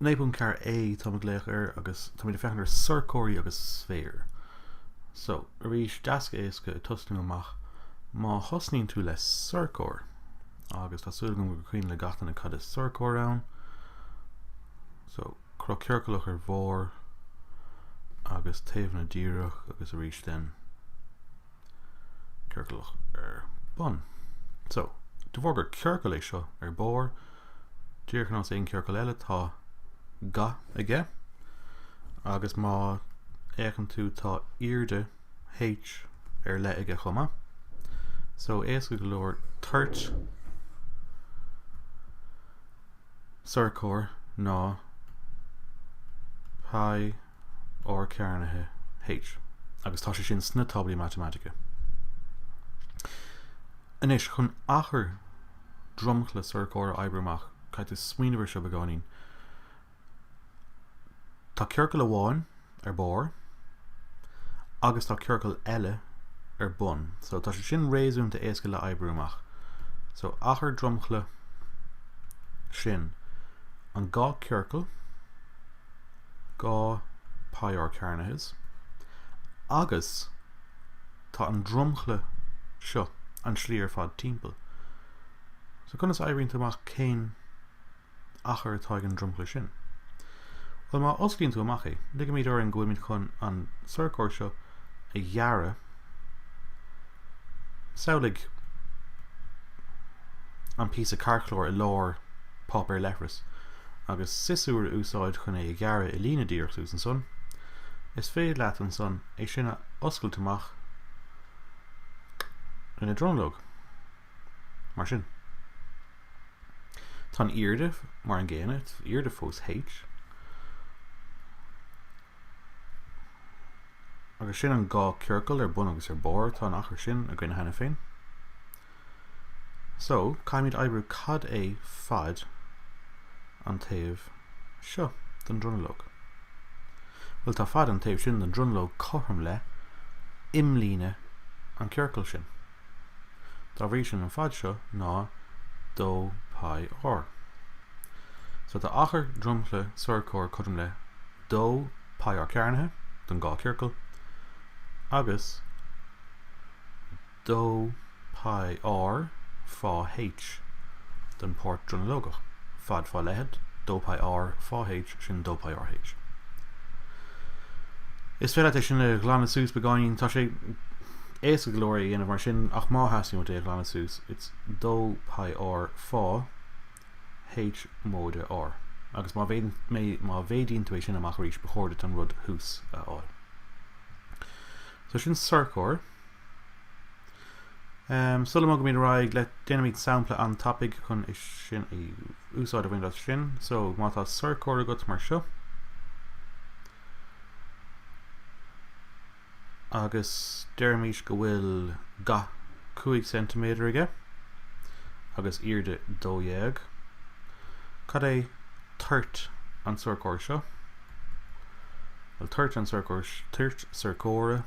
9.4 A, táim ag glaoch air agus táimid ag féachaint ar shorcóirí agus sféir. So, arís, deas éasca ag tosnú amach. Má thosnaíonn tú le sorcóir, agus tá súil agam gur cuimhin le gach duine cad is sorcóir ann, so, cruth ciorcalach ar bharr agus taobhanna díreach agus arís then, ciorcalach ar bun. So, de bharr gur ciorcal é seo ar barr, díreach ar nós aon ciorcal eile, tá ga aige, agus má fhéachann tú tá airde h ar leith aige chomh maith. So, éasca go leor toirt sorcóir ná pi r cearnaithe H agus tá sé sin sna táblaí matamaitice. Anois, chun achar dromchla sorcóir a oibriú amach, caithfidh tú smaoineamh ar seo beagáinín. Tá ciorcal amháin ar barr agus tá ciorcal eile ar bun. So, tá sé sin réasúnta éasca le oibriú amach. So, achar dromchla, sin an dhá ciorcal, dhá pi r cearnaithe agus tá an dromchla seo an tslí ar fad timpeall. So conas a oibríonn tú amach cén achar atá ag an dromchla sin? Bhuel má osclaíonn tú amach é, ligfimid orainn go bhfuilmid chun an sorcóir seo a ghearradh, Samhlaigh an píosa cairtchlár i lár páipéar leithris, agus siosúr a úsáid chun é a ghearradh i líne díreach suas ansan. Is féidir leat ansan é sin a oscailt amach ina dronuilleog, mar sin. Tá an airde mar an gcéanna, is airde fós H. Agus sin an dhá chiorcal ar bun agus ar barr, tá an achar sin againne cheana féin. So, caithfimid oibriú cad é fad an taobh seo den dronuilleog. Bhuel, tá fad an taobh sin den dronuilleog cothrom le imlíne an chiorcail sin. Dá bhrí sin, an fad seo ná 2 π r. So, tá achar dromchla sorcóir cothrom le 2 π r cearnaithe don dhá chiorcal, agus 2 π r fá H don páirt dronuilleogach. Fad fá leithead, 2 π r fá H, sin 2 π r H. Is féidir leat é sin a ghlanadh suas beagáinín, tá sé. Éasca go leor é a dhéanamh mar sin ach má theastaíonn uait é a ghlanadh suas, it's dó pi r fá H móide R. Agus má mhéad, má mhéadaíonn tú é sin amach arís ba chóir duit an rud thuas a fháil. So sin sorcóir. Em, sula mbogaimid ar aghaidh le, déanaimid sampla an-tapaidh chun é sin a úsáid a bhaint as sin. So má tá sorcóir agat mar seo, agus deirimis go bhfuil ga cúig ceintiméadar aige agus airde dó dhéag. Cad é toirt an tsorcóir seo? Bhuel, toirt an tsorcóir, toirt sorcóra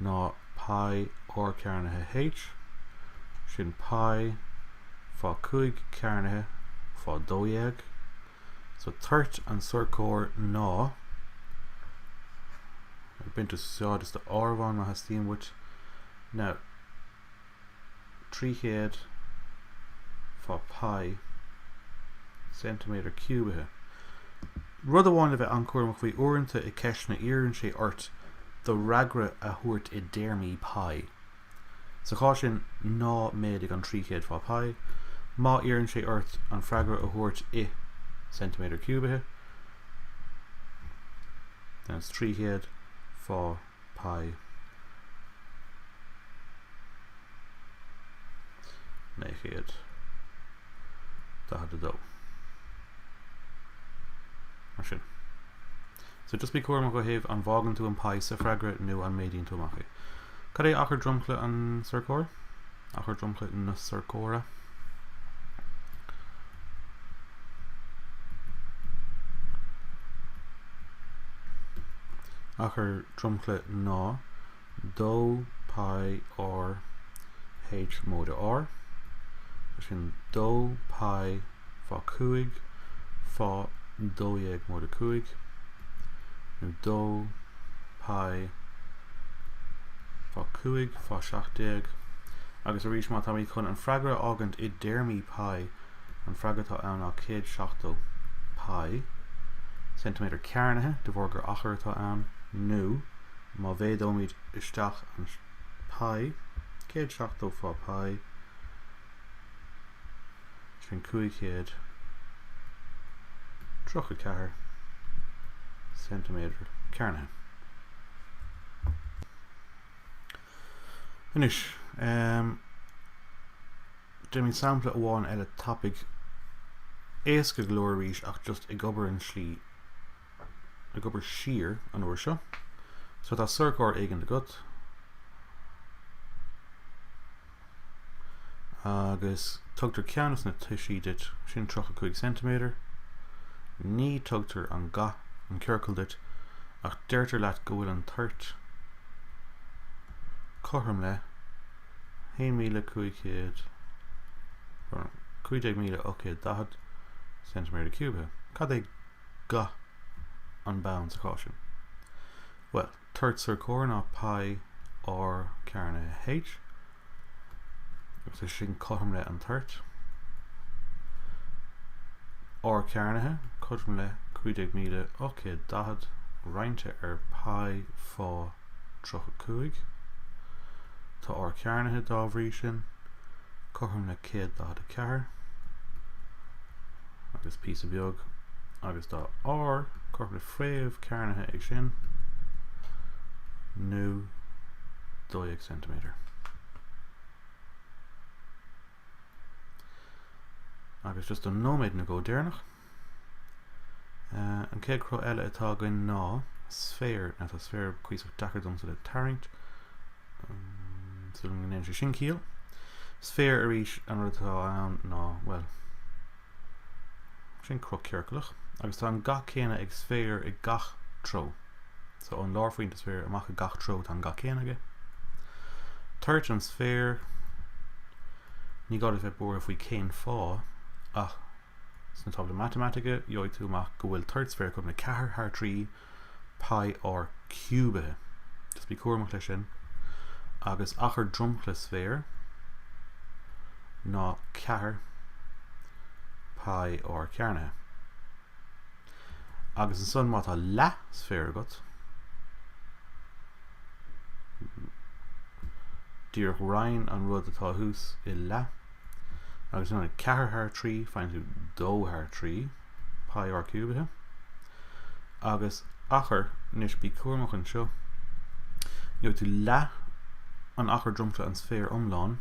ná pi r cearnaithe h, sin pi fá cúig cearnaithe fá dó dhéag. So toirt an sorcóir ná bain úsáid as do áireamhán má theastaíonn uait ná 300 fá pi centimeter ciúbaithe. Rud amháin le bheith an-cúramach faoi, uaireanta i ceisteanna iarrann sé ort do fhreagra a thabhairt i dtéarmaí pi. Sa chás sin, ná méadaigh an 300 fá π, má iarrann sé ort an freagra a thabhairt i ceintiméadair ciúbaithe, then it's 300 fá π naoi chéad daichead a dó. Mar sin. So just bí cúramach ó thaobh an bhfágann tú an π sa freagra nó an méadaíonn tú amach é. Cad é achar dromchla an sorcóir? Achar dromchla na sorcóra. Achar dromchla ná 2 pi r h móide r. Sin 2 pi fá cúig, fá dó dhéag móide a cúig, nó dó pi fá cúig, fá seacht déag, agus arís má táimid chun an freagra a fhágaint i dtéarmaí pi, an freagra atá ann ná céad seachtó pi, ceintiméadar cearnaithe, de bharr gur achar atá ann, nó má mhéadóimid isteach an pi, céad seachtó fá pi, Sin 534 ceintiméadar cearnaithe. Anois, ehm, déanaimid sampla amháin eile tapaidh éasca go leor arís ach just ag obair an slí ag obair siar an uair seo. So tá sorcóir éigin agat agus tugtar ceann as na toisí duit, sin 35 ceintiméadar, ní tugtar an ga an chiorcail duit ach deirtear leat go bhfuil an toirt cothrom le 1,500, nó 15,840 ceintiméadar ciúbaithe. Cad é. ga an bhoinn sa chás sin. Bhuel, toirt sorcóir ná pi r cearnaithe H, agus is sin cothrom le an toirt. R cearnaithe cothrom le 15,840, roinnte ar pi fá. 35. Tá r cearnaithe, dá bhrí sin, cothrom le 144, agus píosa beag, agus tá r cothrom le fréamh cearnaithe de sin, nó 12 cm. Agus just an nóiméad now go deireanach. An chéad chruth eile atá againn ná sféar. Now tá sféar cuíosach deacair domsa le tarraingt. Súil go ndéanann sé sin ciall. Sféar arís an rud atá ann ná, well, sin cruth ciorcalach agus tá an ga céanna ag sféar i gach treo. So ón lárphointe sféir amach i gach treo tá an ga céanna aige. Toirt an sféir, ní gá le bheith buartha faoi cén fáth ach Sna táblaí matamaitice, gheobhaidh tú amach go bhfuil toirt sféir cothrom le 4 thar 3 π r ciúbaithe, just bí cúramach leis sin, agus achar dromchla sféir ná 4 π r cearnaithe. Agus ansan má tá leathsféar agat, díreach roinn an rud atá thuas i leath, Agus in ionad 4 thar 3, faigheann tú 2 thar 3 pi r ciúbaithe. Agus achar, anois bí cúramach anseo, gheobhaidh tú leath an achar dromchla an sféir iomláin,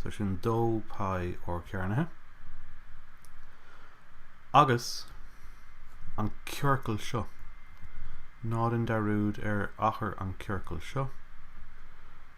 so sin 2 pi r cearnaithe. Agus an ciorcal seo, ná déan dearúd ar achar an chiorcail seo,